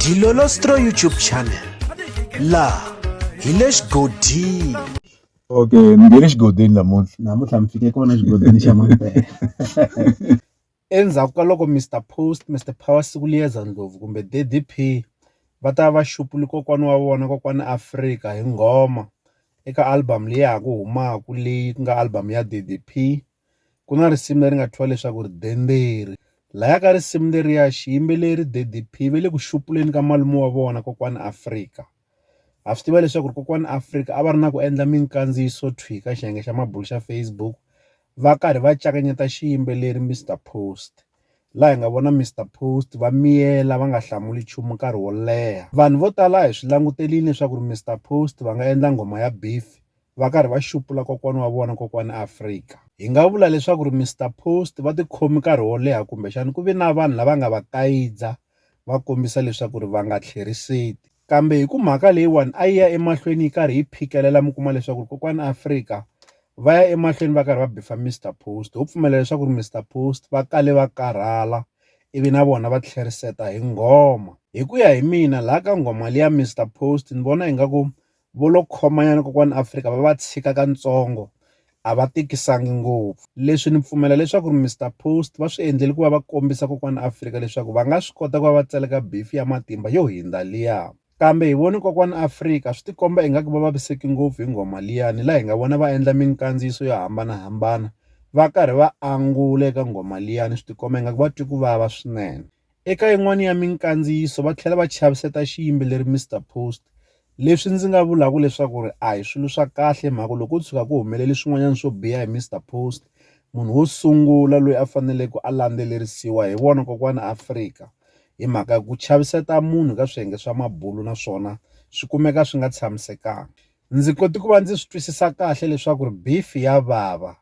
Dilolostro YouTube channel la hi le xigodini okay ni nge le xigodini namuntlha namuntlha mi fike kona xigodini xa mampela endzhaku ka loko mr post mr power siku liyeza ndlovu kumbe ddp va ta va xupuli kokwana wa vona kokwana afrika hi nghoma eka album leyi ya ha ku humaka leyi ku nga album ya ddp Ku na risimu leri nga thyiwa leswaku ri Denderi. Laya ka risimu leriya xiyimbeleri Daddy P ve le ku xupuleni ka malume wa vona kokwani Afrika. Ha swi tiva leswaku ri kokwani Afrika a va ri na ku endla minkandziyiso thwi ka xiyenge xa mabulo xa Facebook va karhi va cakanyeta xiyimbeleri Mister Post laha hi nga vona Mister Post va miyela va nga hlamuli nchumu nkarhi wo leha. Vanhu vo tala a hi swi langutelini leswaku ri Mister Post va nga endla nghoma ya beef va karhi va xupula kokwana wa vona kokwana Afrika. Hi nga vula leswaku ri Mister Post va tikhomi nkarhi wo leha kumbexana ku ve na vanhu lava nga va kayidza va kombisa leswaku ri va nga tlheriseti kambe hi ku mhaka leyiwani a yi ya emahlweni yi karhi yi phikelela mi kuma leswaku ri kokwana Afrika va ya emahlweni va karhi va bifa Mister Post ho pfumela leswaku ri Mister Post va kale va karhala ivi na vona va tlheriseta hi nghoma hi ku ya hi mina laha ka nghoma liya Mister Post ni vona ingaku Vo lo khomanyana kokwani Afrika va va tshika ka ntsongo a va tikisangi ngopfu. Leswi ni pfumela leswaku ri Mister Post va swi endleli ku va va kombisa kokwani Afrika leswaku va nga swi kota ku va va tseleka bifi ya matimba yo hindza liya. Kambe hi voni kokwani Afrika swi ti komba ingaku va vaviseki ngopfu hi nghoma liya ni la hi nga vona va endla minkandziyiso yo hambana hambana va karhi va angula eka nghoma liya ni swi ti komba ingaku va twi ku vava swinene. Eka yin'wana ya minkandziyiso va tlhela va chaviseta xiyimbeleri Mister Post leswi ndzi nga vulaka leswaku ri a hi swilo swa kahle mhaka loko ko tshuka ku humelele swin'wanyana swo biha hi Mister Post munhu wo sungula loyi a faneleke a landzelerisiwa hi vona kokwana Afrika hi mhaka ya ku chaviseta munhu ka swiyenge swa mabulo naswona swi kumeka swi nga tshamisekanga ndzi kote ku va ndzi swi twisisa kahle leswaku ri beef ya vava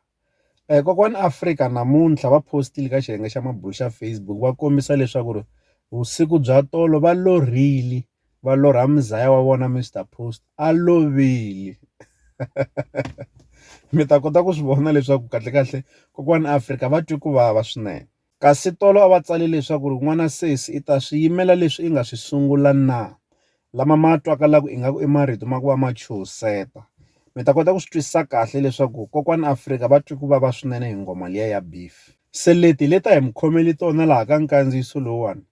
Kokwani Afrika namuntlha va postile ka xiyenge xa mabulo xa Facebook va kombisa leswaku ri vusiku bya tolo va lorhile va lorha muzaya wa vona Mister Post a lovile mi ta kota ku swi vona leswaku kahlekahle kokwani Afrika va twe ku vava swinene. Kasi tolo a va tsale leswaku ri n'wana sesi i ta swi yimela leswi i nga swi sungula na lama ma twakalaku ingaku i marito ma ku va ma chuhiseta. Mi ta kota ku swi twisisa kahle leswaku Kokwani Afrika va twe ku vava swinene hi nghoma liya ya Beef. Se leti hi leta hi mi khomele tona laha ka nkandziyiso lowuwani,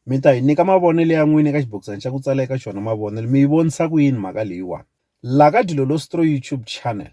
mi ta hi nyika mavonelo ya n'wina eka xibokisana xa ku tsala eka xona mavonelo, mi yi vonisa ku yini mhaka leyiwani? Laha ka Dilolo Stroy YouTube Channel.